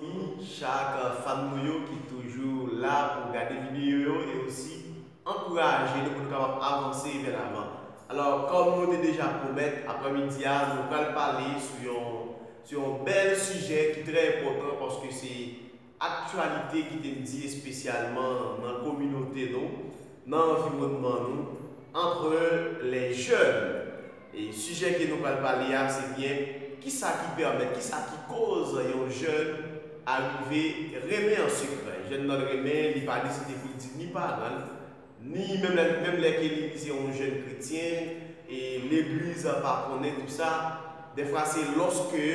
Min chak fan nou yo ki toujou la pou gade video yo e osi ankouraje nou pou nou kapab avanse vè lavan. Alò kòm nou te deja pwomèt aprè midi a nou pral pale sou yon sou yon bèl sijè ki trè enpòtan paske se aktyalite ki te di espesyalman nan kominote nou, nan anviwònman nou, antre lè jèn. Sijè ke nou pral pale a se byen kisa ki pèmèt, kisa ki koz yon jèn arive renmen an sekrè. Jèn nan renmen, li pa deside pou l di ni paran l, ni menm lè ke li se yon jèn kretyen e legliz pa konnen tout sa. Dèfwa se lòske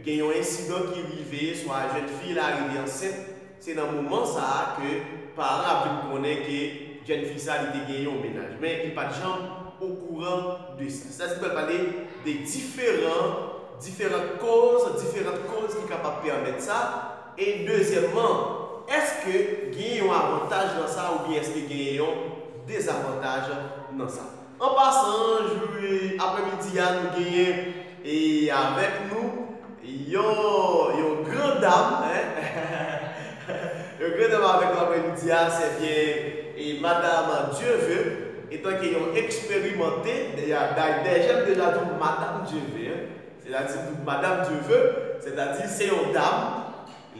gen yon ensidan ki rive, swa jèn fi la rive ansent, Se nan moman sa a ke paran ap vin konnen ke jèn fi sa li te gen yon mennaj, men li pat janm okouran de sa. Sitadi li pral pale de diferan, diferant koz, diferant koz ki kapab pèmèt sa, e dezyèmman, èske gen yon avantaj nan sa oubyen èske gen yon dezavantaj nan sa. An pasan, jou aprè midi a nou genyen avèk nou yon gran dam, yon gran dam avèk nou aprè midi a, sè byen madam Dieuveu etanke yon eksperimante, dèyè m deja di w madam Dieuveu, sètadi m di w madam Dieuveu, sètadi se yon dam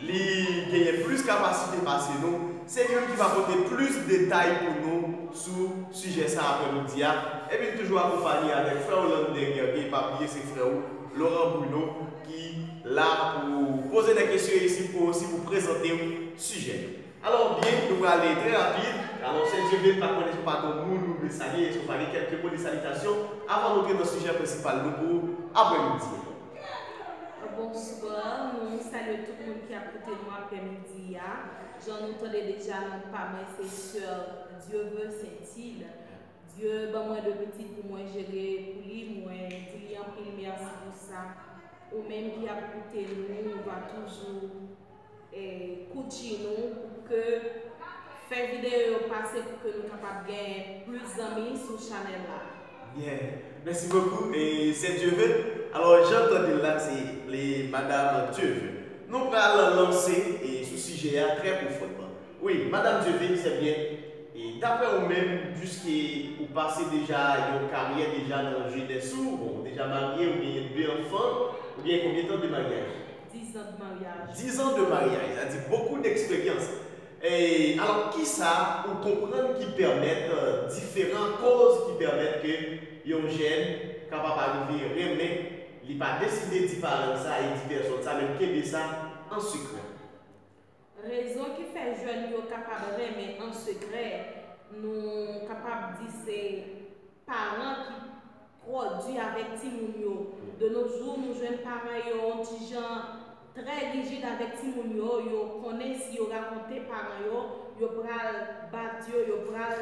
Li genyen plis kapasite pase nou. Se youn ki va pote plis detay pou nou sou sijè sa aprè midi a. Epi n toujou akonpanye avèk frè w Lander Guerrier, pa bliye se frè ou Laurent Bruno ki la pou poze de kesyon isit pou osi pou prezante w sijè yo. Alò byen, nou prale trè rapid. Alò sè Dieuville, pa konnen èske ou pa gen yon moun ou vle salye, èske ou pa gen kèlke mo de salitasyon avan n antre nan sijè prensipal nou pou aprè midi a? Bonswa, nou salye tout moun ki ap koute nou aprè midi a. Jan nou tande deja non pa mwen se Soeur Dieuveut Saintil. Dieu ban mwen 2 pitit pou mwen jere pou li, mwen di li anpil mèsi pou sa. Ou menm ki ap koute nou, ou va toujou. Koutji nou pou ke fè videyo yo pase pou ke nou kapab gen plis zanmi sou chanèl la. Byen, mèsi bokou e sè Dieuve. Alò jan n tande l la se li madam Dieuve nou pral lanse sou sijè a trè pwofondman. Wi madam Dieuve sè byen e daprè ou menm piske ou pase deja yon karyè deja nan jenès ou, bon ou deja marye ou genyen 2 anfan ou genyen konbyen tan de maryaj? 10 ans de mariage. 10 ans de mariage, ça dit beaucoup d'expérience. Eh, alors kisa ou konprann ki pèmèt diferan koz ki pèmèt ke yon jèn kapab arive renmen, li pa deside di paran l sa e di pèsòn sa men l kenbe sa an sekrè? Rezon ki fè jèn yo kapab renmen an sekrè, nou kapab di se paran ki twò di avèk timoun yo. De no jou, nou jwenn paran yo on ti jan trè rijid avèk timoun yo, yo konnen si yo rakonte paran yo, yo pral bat yo, yo pral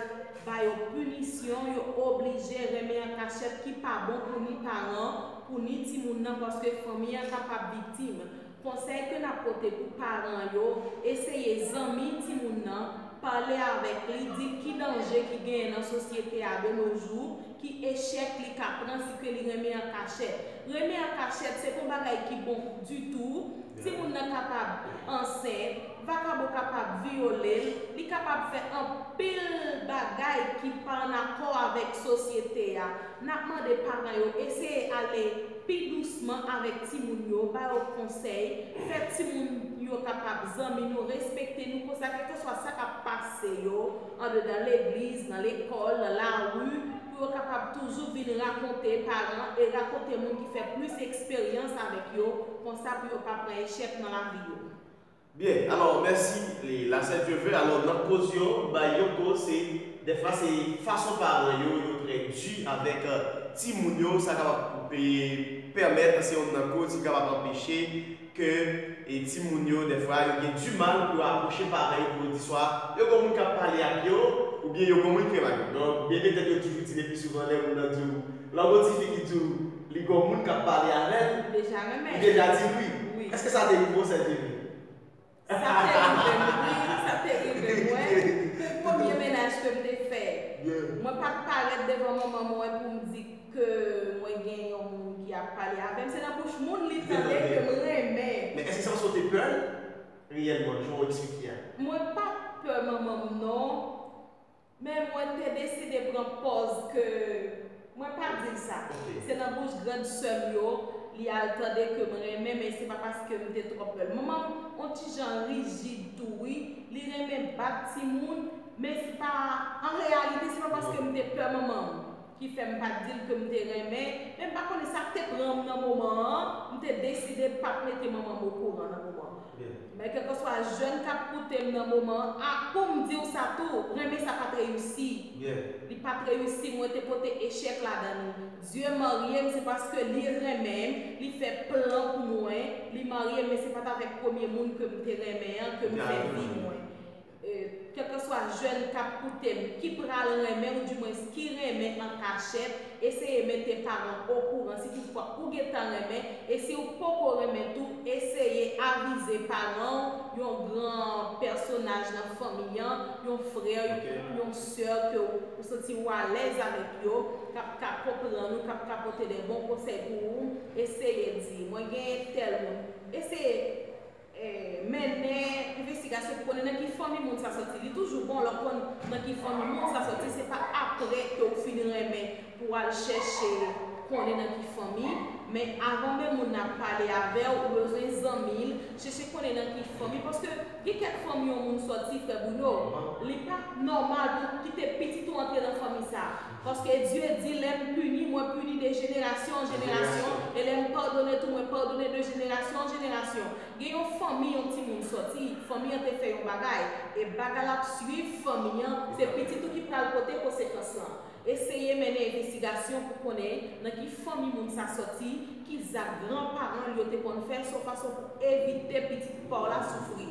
ba yo pinisyon, yo oblije renmen an kachèt ki pa bon pou ni paran, pou ni timoun nan paske fanmi an kapab viktim. Konsèy ke nap pote pou paran yo, eseye zanmi timoun nan, pale avèk li, dil ki danje ki genyen nan sosyete a de no jou, ki echèk li ka pran si ke li renmen an kachèt. Renmen an kachèt se pa yon bagay ki bon ditou, timoun nan kapab ansent, vakabon kapab vyole l, li kapab fè anpil bagay ki pa an akò avèk sosyete a. N ap mande paran yo eseye ale pi dousman avèk timoun yo, ba yo konsèy, fè timoun yo kapab zanmi nou, respekte nou, konsa kèlkanswa sa k ap pase yo andedan legliz, nan lekòl, nan lari, pou yo kapab toujou vin rakonte paran e rakonte moun ki fè plis eksperyans avèk yo, konsa pou yo pa pran echèk nan lavi yo. Byen alò mèsi Leïla sè Dieu veut alò nan koz yo bay yon koz se dèfwa se fason paran yo yo trè di avèk timoun yo sa kapab pèmèt se yonn nan koz ki kapab anpeche ke timoun yo dèfwa yo gen di mal pou yo apwoche paran yo pou yo di swa yo gon moun kap pale ak yo oubyen yo gon moun ki renmen ak yo donk bebe tèt yo toujou di lepi souvan lè moun nan diw lan gon tifi ki diw Li gon moun kap pale avel. Ou deja renmen. Ou deja dil wi. Wi. Eske sa te rive w sè Jenny? Sa te rive m wi, sa te rive mwen. Pou premye menaj ke m te fè. Mwen pat parèt devan manman mwen pou m di ke mwen gen yon moun ki ap pale avè m. Se nan bouch moun li tande ke m renmen. Men eske se paske w te pè l reyèlman jan w eksplike a? Mwen pat pè manman m non. Men mwen te deside pran pòz ke mwen pa di l sa. Se nan bouch grand sè m yo li al tande ke m renmen men se pa paske m te twò pè l. Manman m on ti jan rijid tou wi, li renmen bat timoun men se pa an reyalite se pa paske m te pè manman m. Ki fè m pa t di l ke m te renmen, men m pa konnen sa k te pran m nan moman an, m te deside pa t mete manman m okouran nan moman an. Men kèlkanswa jèn k ap koute m nan moman an, a pou m di w sa tou, renmen sa pa t reyisi. Li pa t reyisi, mwen te pote echèk ladan li. Dye marye m, se paske li renmen m, li fè plan pou mwen, li marye m, men se pa t avèk premye moun ke m te renmen an ke m fè vi mwen. Kèlkeswa jèn k ap koute m, ki pral renmen ou di mwens ki renmen an kachèt, eseye mete paran w okouran si tout fwa ou gen tan renmen, e si ou poko renmen tou, eseye avize paran w, yon gran pèsonaj nan fanmi an, yon frè, yon sè ke ou santi ou alèz avèk yo, k ap ka konprann ou, k ap ka pote de bon konsèy pou ou, eseye di, mwen gen tèl moun, eseye. Mennen envestigasyon pou konnen nan ki fanmi moun sa soti. Li toujou bon lè w konn nan ki fanmi moun sa soti, se pa apre ke w fin renmen pou w al chèche konnen nan ki fanmi, men avan menm moun nan ap pale avè w, ou bezwen zanmi l, chèche konnen nan ki fanmi, paske gen kèk fanmi yon moun soti, frè Bruno, li pa nòmal pou w kite pitit ou antre nan fanmi sa. Paske Dye di, Lè m pini, mwen pini de jenerasyon an jenerasyon, e lè m padone tou, mwen padone de jenerasyon an jenerasyon. Gen yon fanmi yon timoun soti, fanmi an te fè yon bagay, e bagay la ap suiv fanmi an, se pitit ou ki pral pote konsekans lan. Eseye mennen envestigasyon pou konnen nan ki fanmi moun sa soti, ki zak gran paran l yo te konn fè, son fason pou evite pitit pa w la soufri.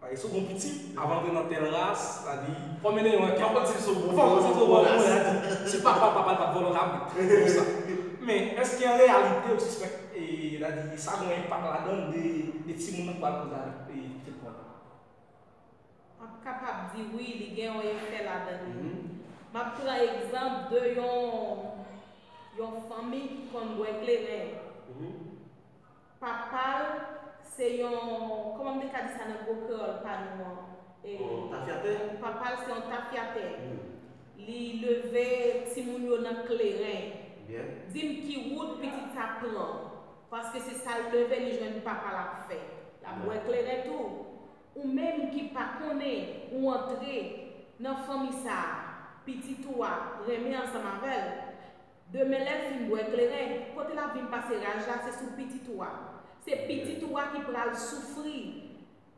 Pale sou bon pitit avan antre nan tèl ras, sa di, fò mennen yon ankèt. Fò konn si l sou bon moun ou sou bon moun, sa di, si papa papa l pa t vòlò kabrit, se pou sa. Men, èske an reyalite ou sispèk, sa di, sa gen yon enpak ladan l de timoun nan k pral kondane pitit vòlò a? M ap kapab di wi, li gen yon efè ladan li. M ap pran egzanp de yon fanmi ki konn bwè kleren. Papa l se yon, kòman m te ka di sa nan gwo kreyòl pa nou an? Yon tafyatè? Papa l se yon tafyatè. Li leve timoun yo nan kleren. Byen. Di m ki wout pitit sa pran? Paske se sa l leve li jwenn papa l ap fè. L ap bwè kleren tou. Ou menm ki pa konnen ou antre nan fanmi sa a, pitit ou a renmen ansanm avè l. Demen lèl fin bwè kleren, kote lap vin pase raj la se sou pitit ou a. Se pitit ou a ki pral soufri,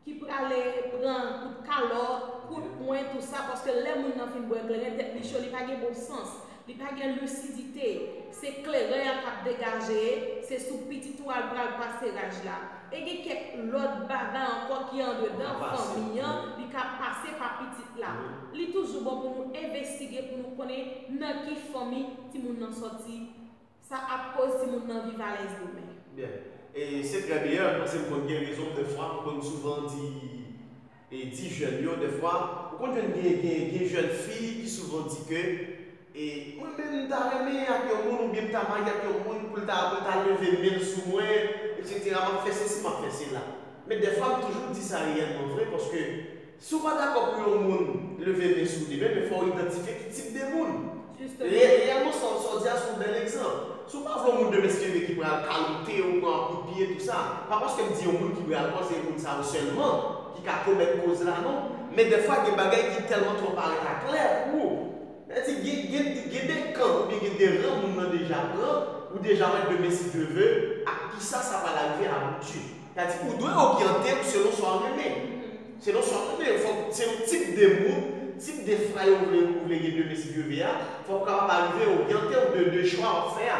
ki prale pran kout kalòt, kout pwen tou sa paske lè moun nan fin bwè kleren tèt li cho li pa gen bon sans, li pa gen lisidite, se kleren an kap degaje, se sou pitit ou a l pral pase raj la. E gen kèk lòt bagay ankò ki andedan fanmi an li ka pase pa pitit la. Li toujou bon pou nou envestige pou nou konnen nan ki fanmi timoun nan sòti, sa ap koz timoun nan viv alèz demen. Byen. E se trè byen an, paske m konn gen rezon m dèfwa m konn souvan di di jèn yo dèfwa ou konn jwenn gen gen gen jèn fi ki souvan di ke E mwen menm m ta renmen ak yon moun oubyen m ta marye ak yon moun pou l ta apre l ta leve men l sou mwen eksetera m ap fè sesi m ap fè sela men dèfwa m toujou di sa reyèlman vre paske si w pa dakò pou yon moun leve men sou w demen men fò w idantifye ki tip de moun reyèlman sa w di a se yon bèl egzanp si w pa vle yon moun demen siveve ki pral kalote w pran kout pye tou sa pa paske m di yon moun ki bwè alkòl se yon moun sa yo sèlman ki ka komèt koz la non men dèfwa gen bagay ki tèlman twò parèt aklè pou ou. Lè di gen gen gen de kan ou byen gen de ran moun nan deja pran, ou deja wè demen si Dye ve, ak kisa sa pral arive abouti. Sa di ou dwe oryante ou selon sa w renmen. Selon sa w renmen, fò w selon tip de moun, tip de fwaye ou vle ou vle gen demen si Dye ve a, fò w kapab arive oryante ou de de chwa w ap fè a.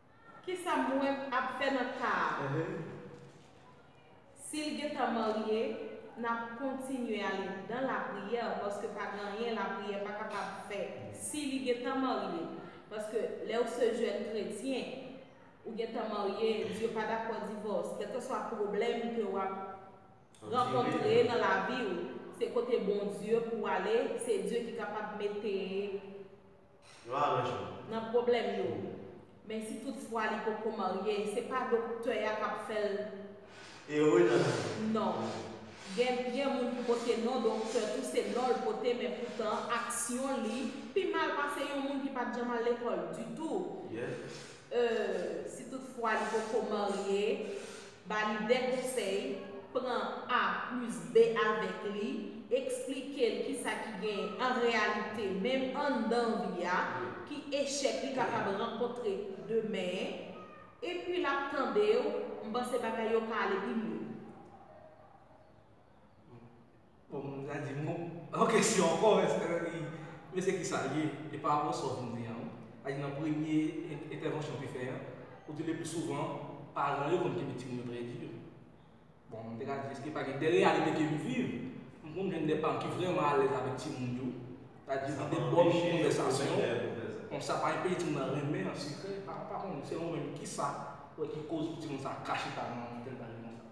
Kisa mwen ap fè nan ka a? Si l gentan marye, n ap kontinye ale nan lapriyè paske pa gen anyen lapriyè pa kapab fè si li gentan marye. Paske lè ou se jèn kretyen, ou gentan marye, Dye pa dakò divòs. Kèlkeswa pwoblèm ke w ap rankontre nan lavi ou, se kote Bondye pou w ale, se Dye ki kapab mete. Yon aranjman. Nan pwoblèm yo. Men si tout fwa li poko marye, se pa doktè a k ap fè l. Ere nan lavi. Non. Gen gen moun ki pote non doktè tou se non l pote men poutan aksyon li pi mal pase yon moun ki pa t janm al lekòl ditou. Yè. E si tout fwa li poko marye. Ba li de konsèy, pran A plis B avèk li, eksplike l kisa ki genyen an reyalite menm anndan vi a, ki echèk li kapab rankontre demen, epi l ap tande w, m panse bagay yo ka ale pi mye. Bon m ta di m yon kesyon ankò eske li men se kisa l ye e pa rapò sa w vin di an wi. Pa di nan premye entèvansyon w te fè an ou di le pli souvan paran yo konn kenbe timoun yo trè di. Bon m te ka di eske pa gen de reyalite ke m viv m konn jwenn de paran ki vrèman alèz avèk timoun yo ta di gen de bòn konvèsasyon bon sa pa enpeche timoun nan renmen an sekrè pa konnen selon w menm kisa ou wè ki koz pou timoun sa ka chita nan tèl bagay konsa.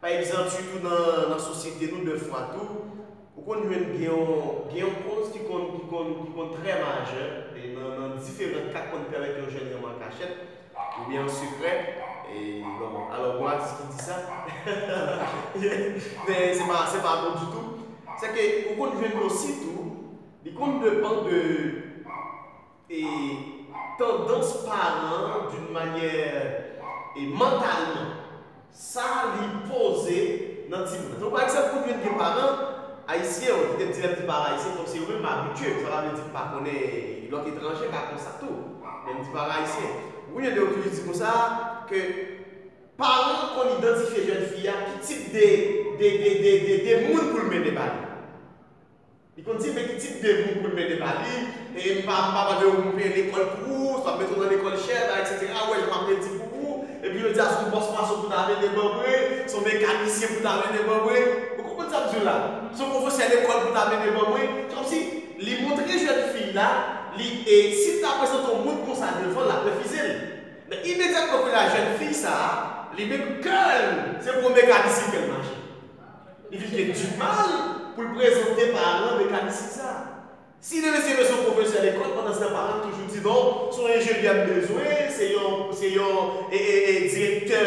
Pa egzanp, sitou nan sosyete nou dèfwa tou, ou konn jwenn gen yon koz ki konn trè majè nan diferan ka k konn pèmèt yon jèn renmen an kachèt oubyen an sekrè, bon, alò gon atis ki di sa, men se pa bon ditou, sèke ou konn jwenn osi tou li konn depan de e tandans paran an d'une manyè e mantalman sa li poze nan timoun nan. Donk pa egzanp ou t vin gen paran ayisyen ou kite m di lè m di paran ayisyen fòk se yo menm m abitye m sa pa vle di m pa konnen lòt etranje ka konsa tou men m di paran ayisyen wi yon de yo toujou di konsa ke paran an konn idantifye jèn fi a ki tip de de de de moun pou l mennen ba li. Li konn di men ki tip de moun poul mete pa li, e m pa mande yo poum peye lekòl pou ou, sa m mete w nan lekòl chè, bay etc. Ou wè jan map redi pou ou, epi yo di a son bòs mason pou ta mete ban mwen, son mekanisyen pou ta mete ban mwen, ou konprann sa m di w la, son pwofesè lekòl pou ta mete ban mwen, se kòmsi li montre jèn fi la li e si l ta prezante yon moun konsa devan l lap refize l. Men imedyatman kounye a jèn fi sa li menm kè l se pou yon mekanisyen kè l mache. li vin gen di mal pou l prezante paran mekanisyen sa a. Si li resi rete yon pwofesè lekòl, pandan se tan paran l toujou di non, se yon enjenyè m bezwen, se yon se yon direktè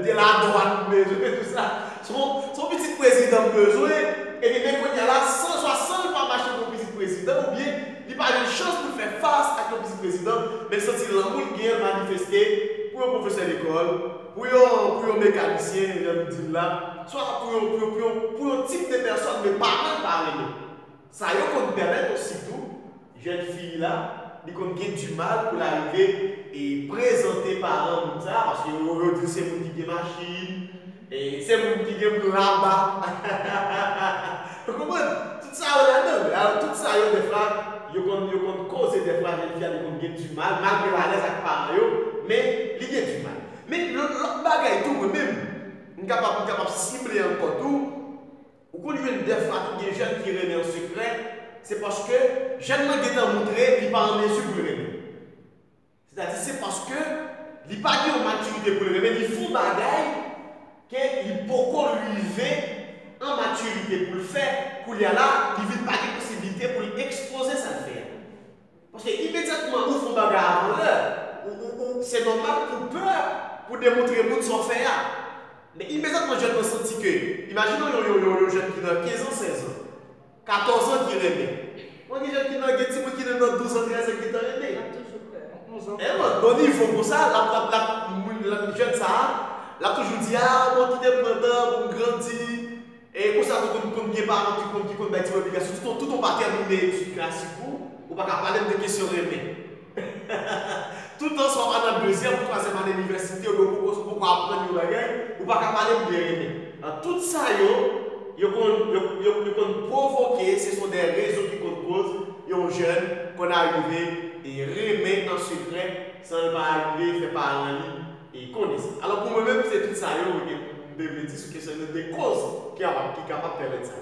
de ladwàn m bezwen e tou sa, se yon pitit prezidan m bezwen, ebyen men kounye a la, san jwa, san l pa mache pou yon pitit prezidan oubyen li pa jwenn chans pou l fè fas ak yon pitit prezidan, men l santi lanmou l gen an l manifeste pou yon pwofesè lekòl, Pou yon pou yon mekanisyen, jan nou di l la, swa pou yon pou yon pou yon pou yon tip de pèsòn men paran l pa renmen. Sa yo konn pèmèt osi tou, jèn fi la, li konn gen dimal pou l arive e prezante paran moun sa a paske yo yo di l se moun ki gen machin, se moun ki gen plan aba. Ou konprann? Tout sa yo ladan vre. Alò tout sa yo dèfwa yo konn yo konn koze dèfwa jèn fi a li konn gen du mal malgre l alèz ak paran yo men li gen du mal. Men lò lòt bagay tou mwen menm m kapab m kapab sible ankò tou ou konn jwenn dèfwa tou gen jèn fi renmen an sekrè se paske jèn lan gentan moutre li pa an mezi pou l renmen. Sètadi se paske li pa gen yon matirite pou l renmen, li fon bagay ke li poko rive an matirite pou l fè, koulye a la li vin pa gen posiblite pou l ekspoze sa l fè a. Paske imedyatman ou fon bagay avan lè, ou, ou, ou, se nòmal pou w pè pou demontre moun sa w fè a. Men imedyatman jèn nan santi ke, imajine yon, yon, yon, yon jèn ki nan 15 an, 16 an. 14 ans ki renmen. Mwen gen jan ki nan gen timoun ki nan nan 12 ans 13 ans ki tan renmen. Lap toujou peur. Hein man non nivo konsa lap lap lap moun jeune sa a lap toujou di a bon kitem pran tan poum grandi e konsa tou konn konn gen paran ki konn ki konn bay timoun obligasyon tout on tout on pa tèmine etid klasik ou ou paka palem de kesyon renmen. Toutan sa w pa nan dezyèm ou twazyèm ane inivèsite oubyen ou poko poko aprann yon bagay, ou pa ka pale m byen renmen. Nan tout sa yo, yo konn yo konn pwovoke, se son dè rezon ki konn koz yon jèn konn arive e renmen an sekrè san l pa arive fè paran li e konnen sa. Alò pou mwen menm se tout sa yo m te vle di sou kesyon de koz ki kapab pèmèt sa.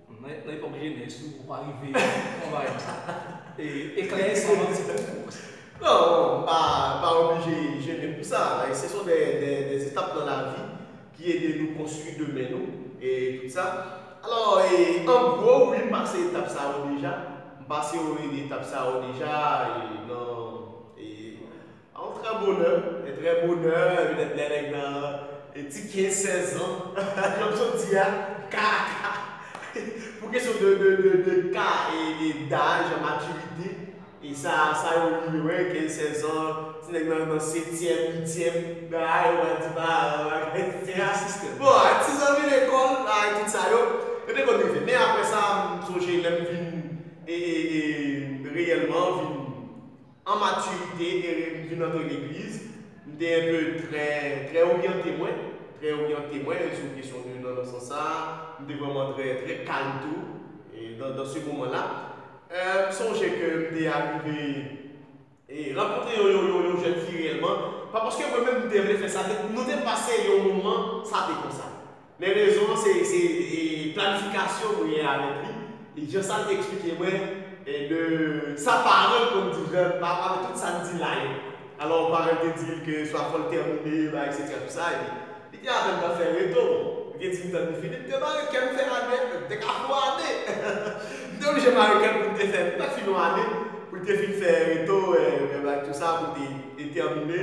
Nan epòk jenès ou, ou pa rive konvayi eklè san manti pou ou. Non, m pa oblije jennen pou sa. Se son de etap nan lavi ki ede nou konstwi demen nou e tout sa. Alò, an gwo, wi, m pase etap sa yo deja. M pase etap sa yo deja nan An trè bonè, e trè bonè, e petèt lè nèg nan ti 15, 16 zan, jan m sot di a, ka a ka. Pou kesyon de ka e daj, matirite, e sa a sa yo rive wè, 15, 16 zan, ti nèg nan nan setyèm, uityèm, bagay yo pral di paran, bagay se rasis. Bon, ak ti zanmi lekòl, bagay tout sa yo, yo te konn rive. Men aprè sa, m sonje lè m vin e reyèlman vin. an maturité e m vin antre legliz m te enpe trè trè oryante mwen trè oryante mwen sou kesyon de nan nan sans sa m te vrèman trè trè kalm tou dan dan se moman la m sonje ke m te arive e rankontre yon yon yon yon jèn fi reyèlman pa paske mwen menm m te vle fè sa nou te pase yon moman sa te konsa Men rezon an se se planifikasyon mwen gen avèk li, jan sa l te eksplike mwen de sa paran l konn di jan pa avèk tout sa n di la yo. Alò paran l te di l ke swa fò l tèmine bay eksetera tout sa epi li te apèn pral fè reto bon li te di m tann li fini m te mare kè m fè ane a m te ka fè yon ane m te oblije mare kè m pou l te fè li pa t fini yon ane pou l te fin fè reto bay tout sa pou l te tèmine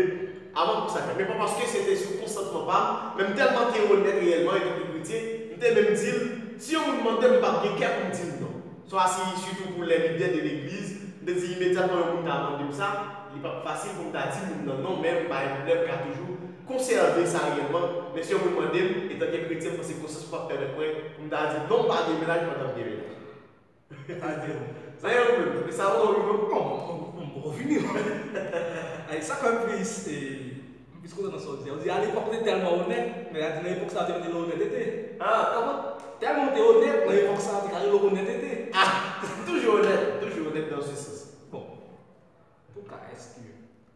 Avan kou sa fèt. Men pa paske se te sou konsantman pa m, men m tèlman te onèt reyèlman epi tou kretyen, m te menm di l, Si yon moun mande m, m pap gen kè pou m di l non. Sa a si sitou pou lè lidè de legliz, m te di imedyatman yon moun ta mande m sa, li pap fasil pou m ta di moun nan non, men m pa gen pwoblèm, m ka toujou konsève sa reyèlman, men si yon moun mande m, etanke kretyen m panse konsyans m pap pèmèt mwen pou m ta di l non, m pa gen menaj m pa tap gen menaj. Sa di nou. Sa ye ou menm depi sa ou wi non. Bon m poko fini non. Ayy sak fèm tris e m plis kontan nan sa ou di a. Ou di a lepòk ou te tèlman onèt men a di nan epòk sa ou te mete lè onètete. Ah tèlman tèlman ou te onèt nan epòk sa ou te ka rele w onètete. Ah toujou onèt toujou onèt nan yon sèl sans. Bon antouka eske.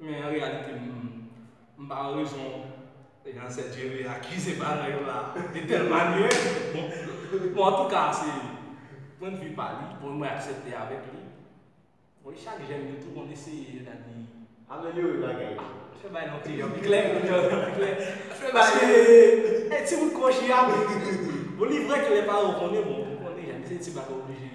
Men an reyalite m m pa wè rezon Ansèt Jere akize paran yo la de tèl manyè. Bon antouka se pwendvi pa li, bon mwen aksèpte avèk li. Bon e chak jèn yo tou konn eseye edadi. Amelyore bagay yo. An fè bagay la yon ti jan pi klè, yon jan pi klè. Paske e ti bout kòchi a, bon li vrè ke lè paran w konnen bon, ou konnen jan, men se ti bagay oblije.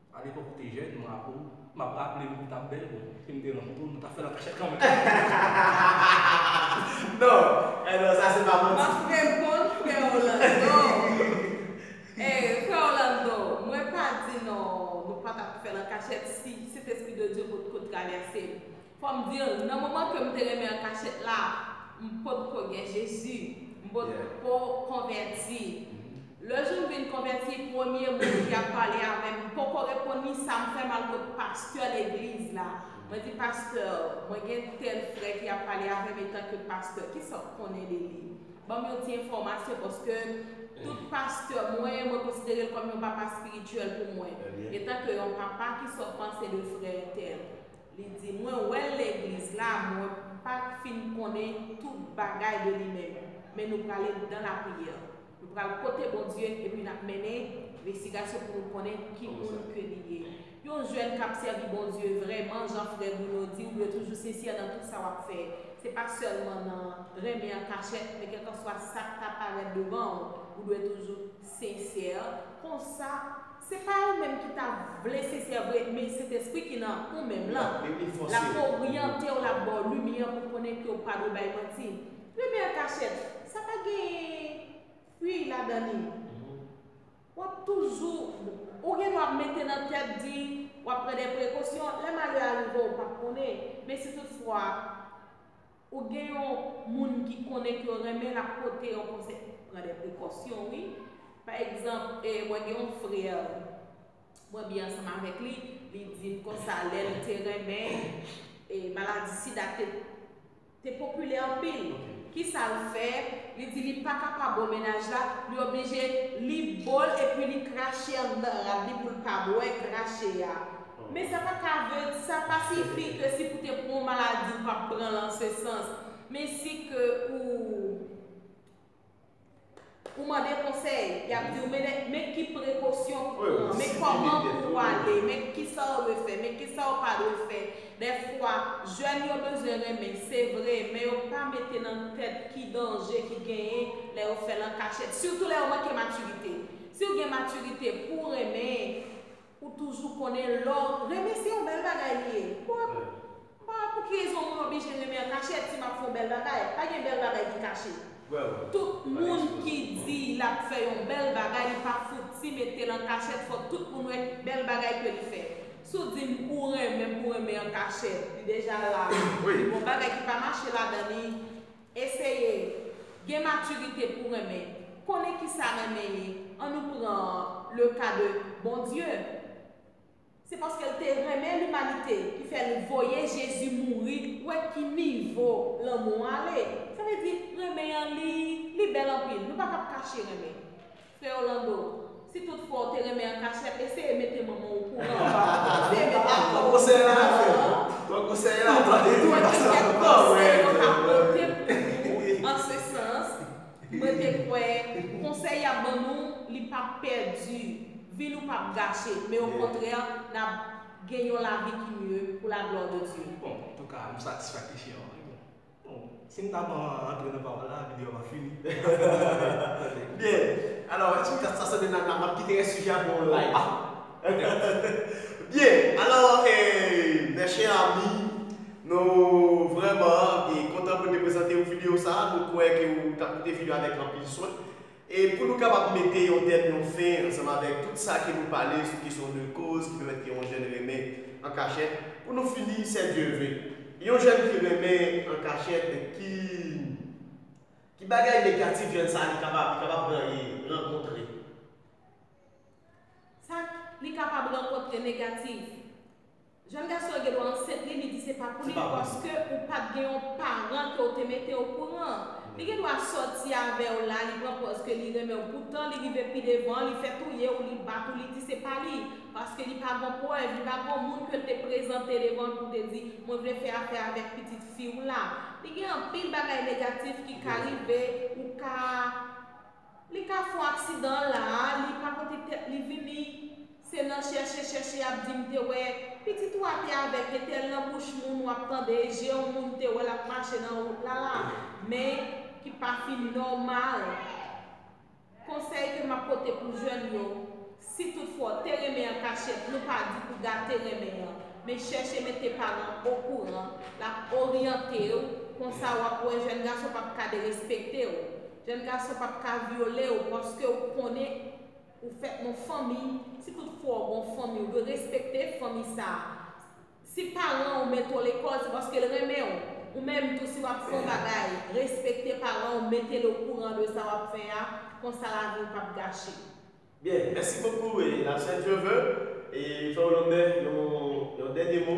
A lepòk ou te jèn, mwen ak ou, m ap raple m ou t ap bèl pou mwen. Si m te lanmou tou, nou ta fè l an kachèt kanmenm. Non, eh non, sa se pa manti. M ap reponn frè Orlando. Eh, frè Orlando, mwen pa di non nou pa t ap fè l an kachèt si Sentespri de Dye potko travèse m. Fòm diw, nan moman kem te renmen an kachèt la, m pot ko gen Jezi, m pot ko konvèti. Le joum vin konvèti, premye moun ki ap pale avèm, m poko reponn li, sam fè mal kot pastè legliz la. Mwen di pastè, mwen gen tèl frè ki ap pale avèm etan ke pastè, kisa w konnen de li? Banm yon ti enfòmasyon paske tout pastè mwen, mwen konsiderel kòm yon papa spirityèl pou mwen. Etan ke yon papa ki sòt panse de frè entèl. Li di, Mwen wè l legliz la, mwen pa t fin konnen tout bagay de li menm, men nou prale dan lapriyè. Nou pral kote Bondye epi n ap mennen nvestigasyon pou nou konnen ki moun ke li ye. Yon jèn k ap sèvi Bondye vrèman, jan frè Bruno di, ou dwe toujou sensè nan tout sa w ap fè. Se pa sèlman nan renmen an kachèt, men kèlkanswa sa k ta parèt devan w, ou dwe toujou. Sincère konsa se pa ou menm ki ta vle sincère vre men sentespri ki nan ou menm lan lap oryantew lap baw limyè pou konnen kew pa dwe bay manti renmen an kachèt sa pa gen ui ladan li wap toujou ou gen dwa mete nan tèt di wap pran de prekosyon lè malè a rive ou pap konnen men si tout fwa. Ou gen yon Moun ki konnen ke yo renmen lap pote yon konsèy. Pran dè prekosyon wi. Pa egzanp e mwen gen yon frère mwen byen ansanm avèk li, li dim konsa lèl te renmen e maladi sida te te popilè anpil. Kisal fè, li di li pa kapab bò mennaj la, li oblije li bòl epi li krache anndan rad li poul pa bwè krache a. Men sa pa ka vle, sa pa sifi ke si pou te pran yon maladi ou pap pranl an se sans. Men si ke ou ou mande konsèy, yap diw men men ki prekosyon pou pran, men kòman pou ou ale, men kisa ou dwe fè, men kisa ou pa dwe fè. Dèfwa jèn yo bezwen renmen se vre, men yo pa mete nan tèt ki danje ki genyen lè yo fèl an kachèt. Sitou lè yo manke matirite. Siw gen matirite pouw renmen, Ou toujou konnen lè w renmen se yon bèl bagay li ye. Bon, m pa wè pou ki rezon mwen oblije renmen an kachèt si m ap fè yon bèl bagay. Pa gen bèl bagay ki kache. Tout moun ki di l ap fè yon bèl bagay li pa fouti mete l an kachèt fòk tout moun wè bèl bagay ke li fè. Si w di m ou renmen m pou renmen an kachèt li deja la li bon bagay ki pa mache ladan li. Eseye Gen maturite pou renmen Konnen kisa renmen ye An nou pran le ka de Bondye Se paske l te renmen limanite ki fè l voye Jezi mouri Ou wè ki nivo lanmou an ale Sa vle di renmen an li li bèl anpil Nou pa kab kache renmen Frè Orlando, si tout fwa ou te renmen an kachèt, eseye mete manman w o kouran. Eseye mete manman w o kouran. Mwen gen kèk konsèy mwen ka pote pou nou an se sans. Mwen te kwè, konsèy y ap ban nou, li p ap pèdi. Vi nou p ap gache, men okontrè, n ap gen yon lavi ki mye, pou laglwa de Dye. Bon, antouka, m satisfè kesyon an wi. Bon, si m ta pran antre nan pawòl la, videyo a pa fini. Byen, alò, èske kat sa sanble nan map kite rès sijè a pou yon live? Ah! Petèt. Byen, alò, e, mè chè ami, nou vrèman kontan pou n te prezante ou videyo sa a. Nou kwè ke ou t ap koute videyo a avèk anpil swen. E pou nou kapab mete yon tèm, yon fen, ansanm avèk tout sa ke nou pale sou kesyon de koz ki pèmèt ke yon jèn renmen an kachèt, pou nou fini, sè Dye ve, yon jèn ki renmen an kachèt, ki, ki bagay negatif jèn sa a li kapab, li kapab ranyen, rankontre? Sa li kapab rankontre negatif? Jèn gason an gendwa ansent li, li di se pa pou li, paske ou pat gen yon paran ke ou te mete okouran. Li gendwa sòti avè ou la, li pran pòz ke li renmen ou, poutan li rive pi devan, li fè touye ou, li bat ou, li di se pa li, paske li pa gon prèv, li pa gon moun ke l te prezante devan l pou te di, mwen vle fè afè avèk pitit fi ou la. Li gen anpil bagay negatif ki ka rive, ou ka, li ka fon aksidan la a, li pa pote tèt li vini. Se nan chèche chèche yap dim te wè pitit ou a te avèg gen tel nan bouch moun wap tande e je yon moun te wèl ap mache nan rout la la men ki pa fin nòmal konsèy ke map pote pou jèn yo si tout fwa ou te renmen an kachèt nou pa di pou gate renmen an men chèche mete paran okouran lap oryantew konsa wap wè jèn gason pap ka derespektew jèn gason pap ka vyolew paskew konnen Ou fèt nan fanmi, si tout fwa ou gon fanmi ou dwe respekte fanmi sa a. Si paran ou mete w lekòl se paske l renmen w. Ou menm tou si w ap fè yon bagay, respekte paran ou mete l okouran de sa w ap fè a, konsa lavi ou p ap gache. Byen, mèsi bokou la sè Trevor e fè w lonè yon dènye mo.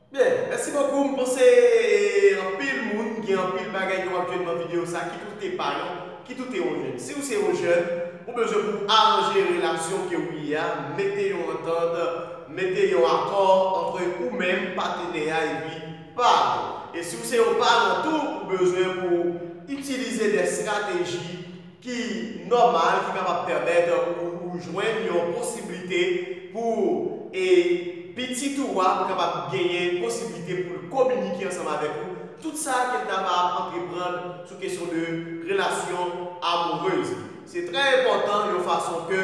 Byen, mèsi bokou, m panse anpil moun gen anpil bagay yo ap jwenn nan video sa, kit ou te pa yon, kit ou te yon jèn. Si ou se yon jèn, ou bezwen pou w aranje relasyon ke ou ye a, mete yon antant, mete yon akò antre ou menm, patenè a epi par ou. E si ou se yon paran tou, ou bezwen pou w itilize de strateji ki nòmal ki kapab pèmèt ou jwenn yon posiblite pou e pitit ou a kapab genyen posiblite pou l kominike ansanm avèk ou, tout sa ke l ta va ap antreprann sou kesyon de relasyon amoureuz. Se trè enpòtan yon fason ke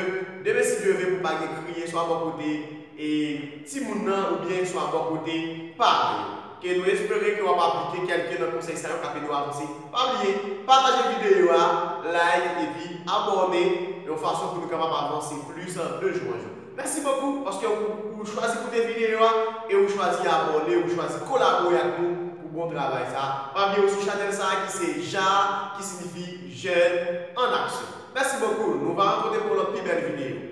demen si Dye ve pou pa gen kriye swa bò kote e timoun nan oubyen swa bò kote paran yo. ke nou espere ke wap aplike kelke nan konsey sa yo kap ede w avanse pa bliye pataje video a like epi abòne yon fason pou nou kapab avanse plis de jou an jou mèsi bokou paske ou chwazi koute video a e ou chwazi abòne ou chwazi kolabore ak nou pou bon travay sa pa bliye ou sou chanèl sa ki se jaa ki sinifi jèn an aksyon mèsi bokou nou va rankontre pou yon lòt pi bèl video.